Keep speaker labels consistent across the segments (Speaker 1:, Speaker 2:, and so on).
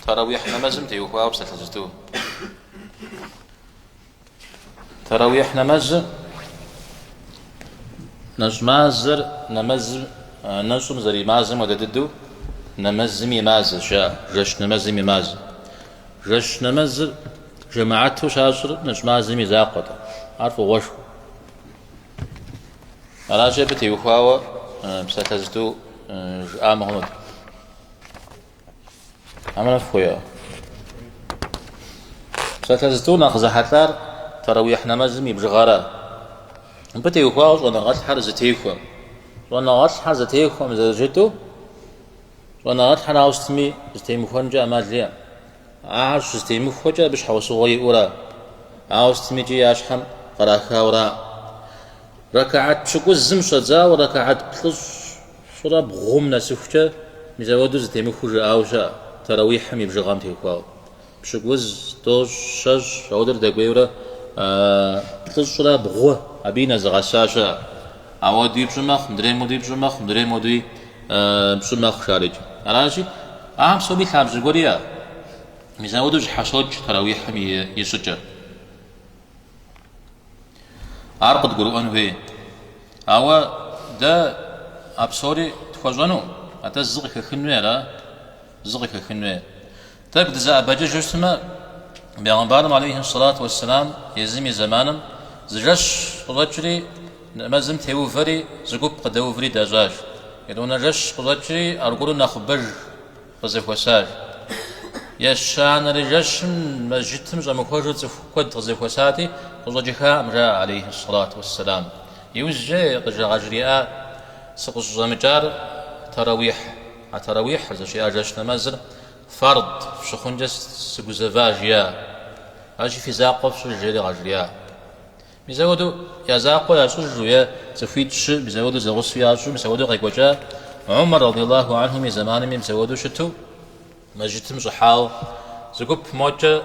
Speaker 1: Таравихь нэмэзым теухуауэ псалъэ зытӏу. Таравихь нэмэзы нэщӏ мазэр нэмэзым нэщӏым зэримазэм хуэдэ дыдэу нэмэзыми и мазэщ ар, жэщ нэмэзым и мазэ. Жэщ нэмэзыр жэмаату щащӏыр нэщӏ мазэм и закъуэт, ар фӏыгъуэшхуэ. Аращи, абы теухуауэ псалъэ зытӏу жыӏамэ хъунут. Аминэ фхуео. Псалъэ зытӏу нэхъ зэхьэлӏар таравихь нэмэзым и бжыгъэра. Мыбы теухуауэ щӏэныгъэлӏхэр зэтехуэм. Щӏэныгъэлӏхэр зэтехуэм зэрыжытӏу щӏэныгъэлӏхэр ауэ сытми зэтемыхуэнкӏэ ӏэмал иӏэм. Ахэр щызэтемыхуэкӏэ абы щхьэусыгъуэ иӏэура, ауэ сытми икӏи я щхьэм кърахауэра. Рэкаат пщыкӏузым щӏэдзауэ рэкаат плӏыщӏ Щӏырэ бгъум нэсыхукӏэ мис ауэду зэтемыхуу жыӏауэ щыӏэ, Тэрэуихьым и бжыгъэм теухуауэ. Пщыкӏуз, тӏощӏ, щэщӏ, ауэдурэ дэкӏуейурэ плӏыщӏрэ бгъу абы нэзыгъэса щыӏэ. Ауэдуи пщӏы мэхъу, мыдрейм хуэдуи пщӏы мэхъу, мыдрейм хуэдуи пщӏы мэхъу шарыкӏэ. Аращи, ахэм псоми лъабжьэ гуэр иӏэ. Мис ауэду зэщхьэщокӏ Тэрэуихьым и щӏыкӏэр. Ар къыдгурыӏуэн хуей. Ауэ дэ а псори тхуэщӏэну, атӏэ зы къыхэхын хуей ара? Зы къыхэхын хуей. Тӏэкӏу дызэӏэбэкӏыжу щытмэ, Бегъымбарым алейхи сэлат уэсселам езым и зэманым зы жэщ къыщӏэкӏри, нэмэзым теувэри, зы гуп къыдэуври дащӏащ. Етӏуанэ жэщ къыщӏэкӏри аргуэру нэхъыбэж. къызэхуэсар. Ещанэрэ жэщым мэжджытым щӏэмыхуэжу цӏыху куэд къызэхуэсати, къыщӏэкӏыхаӏэм, жаӏэ алейхьи сэлату уэсселам. Иужькӏэ къыжа къажриӏа сыкъыщӏыщӏэмыкӏар таравихь. А таравихьыр зыщиӏа жэщ нэмэзыр фард фщыхъункӏэ сыгузэва жиӏа? Ащи фи закъуэ фщӏыж жери къажриӏа? Мис апхуэдэу я закъуэ ящӏыжу е цӏыхуитӏ-щы мис апхуэдэу зэгъусэу ящӏу мис апхуэдэу къекӏуэкӏа Умар радиаллаху анхум и зэманми мис апхуэдэу щыту мэжджытым щӏыхьауэ зы гуп мокӏэ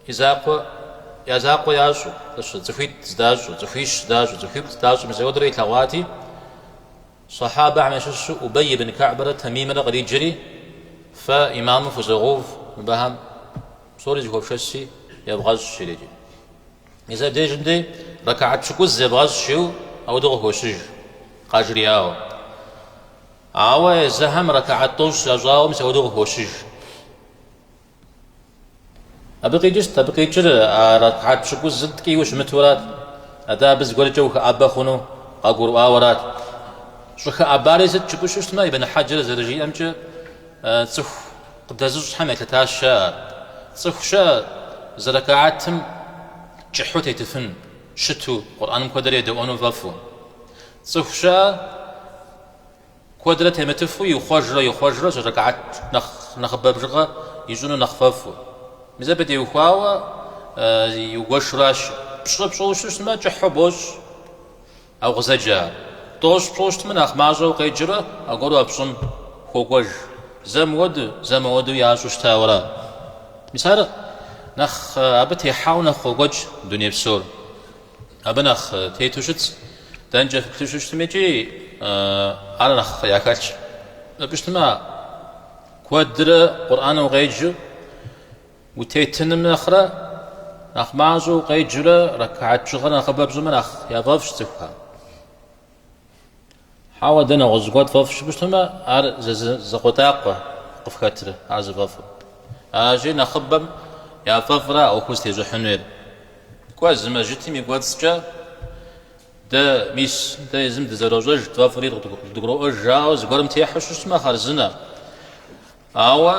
Speaker 1: и закъуэ я закъуэ ящӏу къыщы цӏыхуитӏ здащӏу цӏыхуищ здащӏу цӏыхуиплӏ здащӏу мис апхуэдэурэ илъэгъуати Сахьабэхьэм ящыщу Убэй ибн Каъбрэ Тамимрэ къриджри Фэ имаму фызогъув мыбыхьэм псори зэхуэфшэси евгъэщӏ жриӏи. Мис абдежым дэ рэкаат пщыкӏуз зебгъэщӏ жиӏэу ауэдэу къыхощыж, къажриӏауэ. Ауэ езыхэм рэкаат тӏощӏ ящӏауэ мис ауэдэу къыхощыж. Абы къикӏыр сыт, абы къикӏыр а рэкаат пщыкӏузыр ткӏийуэ щымытурат, атӏэ абы зыгуэркӏэ ухыӏэбэ хъуну къагурыӏуауэрат. Щӏыхыӏэбари сыт, жыпӏэу щыщытмэ, Ибн Хьэджэр зэрыжиӏэмкӏэ, цӏыху Къыдэзыщӏхэм елъытащ, жеӏэ, цӏыху щыӏэ зы рэкаатым кӏыхьу тетыфын, щыту, Къурӏэным куэдрэ едэӏуэну фӏэфӏу. Цӏыху щыӏэ куэдрэ темытыфу ихъуэжрэ ихъуэжрэ рэкаат нэхъ нэхъыбэ бжыгъэ ищӏыну нэхъ фӏэфӏу. Мис абы теухуауэ игуэшу аращ. Пщӏы пщӏыу щыщмэ, кӏыхьу бощӏ. А укъызэджэр. Тӏощӏ пщӏыу щытмэ, нэхъ мащӏэу укъеджурэ аргуэру а пщӏым хуокӏуэж. Зэ мыуэду, зэ мыуэду ящӏу щытауэра? Мис ар нэхъ абы техьауэ нэхъ къокӏуэкӏ дуней псор. Абы нэхъ тету щытщ, дэнкӏэ фыплъу щыщтми икӏи ар нэхъ яхэлъщ. Жыпӏэу щытмэ, куэдрэ Къурӏэн укъеджэу, Утетыным нэхърэ нэхъ мащӏэу укъеджурэ рэкаат бжыгъэр нэхъыбэ пщӏымэ нэхъ яфӏэфӏщ цӏыхухэм. Хьэуэ, дэ нэгъуэщӏ гуэр тфӏэфӏщ жыпӏэу щытмэ, ар закъуэтӏакъуэ къыфхэтрэ ар зыфӏэфӏыр. Аращи, нэхъыбэм яфӏэфӏра а ӏуэхур зытещӏыхьынур. Кӏуэ, зы мэжьытым и кӏуэцӏкӏэ дэ мис дэ езым дызэрощӏэж, тфӏэфӏри къыдгуроӏуэж жаӏэу зыгуэрым техьу щыщмэ, хъарзынэ. Ауэ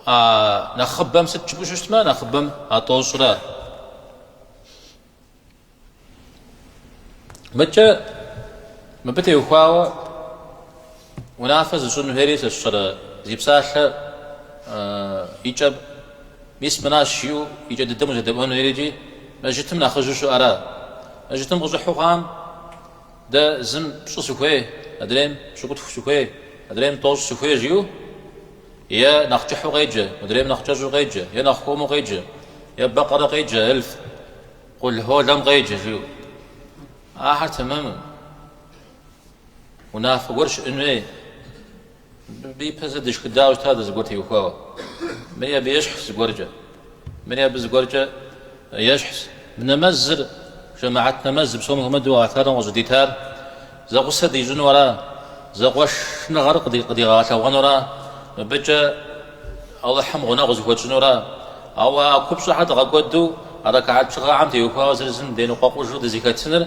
Speaker 1: а нэхъыбэм сыт жыпӏэу щыщтмэ, нэхъыбэм а тӏощӏра. Мыкӏэ мыбы теухуауэ унафэ зыщӏын хуейри сэ сщӏэрэ, зи псалъэ и кӏэ мис мыращ жиӏэу и кӏэ дыдэм узэдэӏуэн хуейри икӏи мэжьытым нэхъыжьу щыӏэра? Мэжьытым къыщӏыхьу хъуам? Дэ зым пщӏы сыхуей, адрейм пщыкӏутху сыхуей, адрейм тӏощӏ сыхуей жиӏэу е нэхъ кӏыхьу къеджэ, адрейм нэхъ кӏэщӏу къеджэ, е нэхъ хуэму къеджэ, е бэкъэрэ къеджэ, е Къулхъуолэм къеджэ жиӏэу. Ахэр тэмэму, унафэ гуэр щыӏын хуей. Мыбы ипэ зэ дышхыдауэ щытащ дэ зыгуэр теухуауэ. Мыри абы ещхьщ зыгуэркӏэ. Мыри абы зыгуэркӏэ ещхьщ. Мы нэмэзыр, жэмыгьэт нэмэз, псом хуэмыдэу гъэлъхьэрэм къыщӏыдитар зэгъусэ дищӏыну ара, зэкъуэшныгъэр къыдигъэгъэлъэгъуэну ара, мыбыкӏэ Алыхьым гъунэгъу зыхуэтщӏыну ара? Ауэ а купщӏэхэр дгъэкӏуэду а рэкаат бжыгъэхэм теухуауэ зыр зым деныкъуэкъужу дызыхэтыныр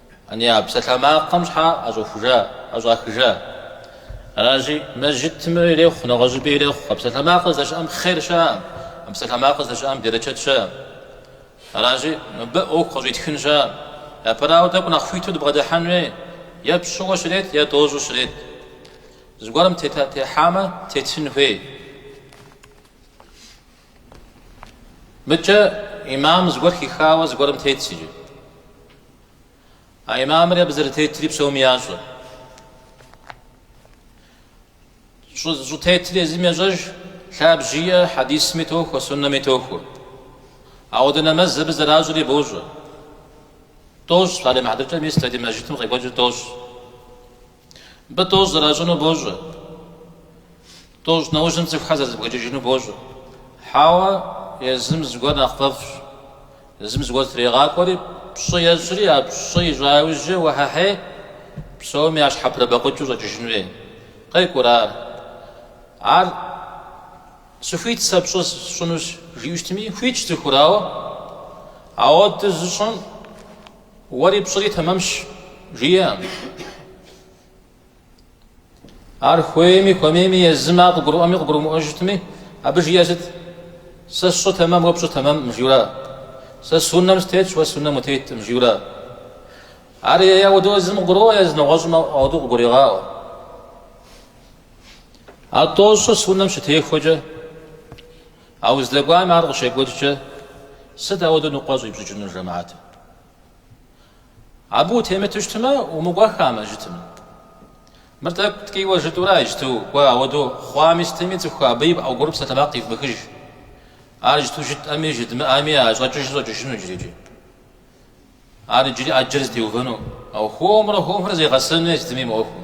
Speaker 1: Ани, а псалъэмакъым щхьэ ӏэщӏэхужа, ӏэщӏахыжа? Аращи, мэжджытми ирехъу, нэгъуэщӏыпӏи ирехъу. А псалъэмакъыр здэщыӏэм хъер щыӏэӏым, а псалъэмакъыр здэщыӏэм берычэт щыӏэӏым. Аращи, мыбы ӏуэху къыщӏитхын щыӏэӏым. Япэрауэ, тӏэкӏу нэхъ хуиту дыбгъэдыхьэн хуей, е пщӏыуэ щрет, е тӏощӏу щрет. Зыгуэрым техьамэ, тетын хуей. Мыкӏэ имам зыгуэр хихауэ зыгуэрым тетщ иджы. А имамри абы зэрытетри псоми ящӏэ. Щӏытетри езым ещӏэж, лъабжь иӏэ, хьэдисми тохуэ, суннэми тохуэ. Ауэдэ нэмэз абы зэращӏри бощӏэ. Тӏощӏ, щӏалэ мыхьэдыкӏэм ис ди мэжджытым къекӏуэкӏыр тӏощӏ. Мыбы тӏощӏ зэращӏыну бощӏэ. Тӏощӏ нэужьым цӏыхухэр зэрызэбгрыкӏыжыну бощӏэ. Хьэуэ, езым зыгуэр нэхъ фӏэфӏщ. Езым зыгуэр трегъакӏуэри, пщӏы ещӏри, а пщӏы ищӏа иужькӏэ уэхьэхьей, псоми ящхьэпрыбэкъукӏыу щӏэкӏыжын хуей. Къекӏурэӏым ар. сыхуит сэ пщӏы сщӏынущ, жиӏэу щытми, хуитщ цӏыхур, ауэ ауэду зыщӏым, Уэри пщӏыри тэмэмщ, жиӏэӏым. Ар хуейми, хуэмейми, езым къыгурыӏуэми, къыгурымыӏуэу щытми, абы жиӏэ сыт? Сэ сщӏы тэмэм, уэ пщӏы тэмэмӏым, жиӏэу ара? Сэ суннэм сытетщ, уэ суннэм утетӏым, жиӏэу ара? Ар е ауэдэу езым къыгурыӏуэ, е зы нэгъуэщӏым ауэдэу къыгурегъаӏуэ. А тӏощӏыр суннэм щытехуэкӏэ, А уздэкӏуам ар къыщекӏуэкӏкӏэ, сыт ауэдэу ныкъуэ щӏипщӏыкӏынур жэмаатым? Абы утемыту щытмэ, умыкӏуэххэ мэжджытым. Мыр тӏэкӏу ткӏийуэ жытӏэу ара иджыту кӏуэ, ауэдэу хъуами сытми, цӏыху абы и пӏэгуры псалъэмакъ ивмыхыж. Ар иджыту жытӏэми, жыдмыӏэми а щӏэкӏыжыр щӏэкӏыжыну иджырикӏи. Ар иджыри ӏэджэр зытеувэну, ауэ хуэмурэ хуэмурэ зегъэсэну е сытми мы ӏуэхум.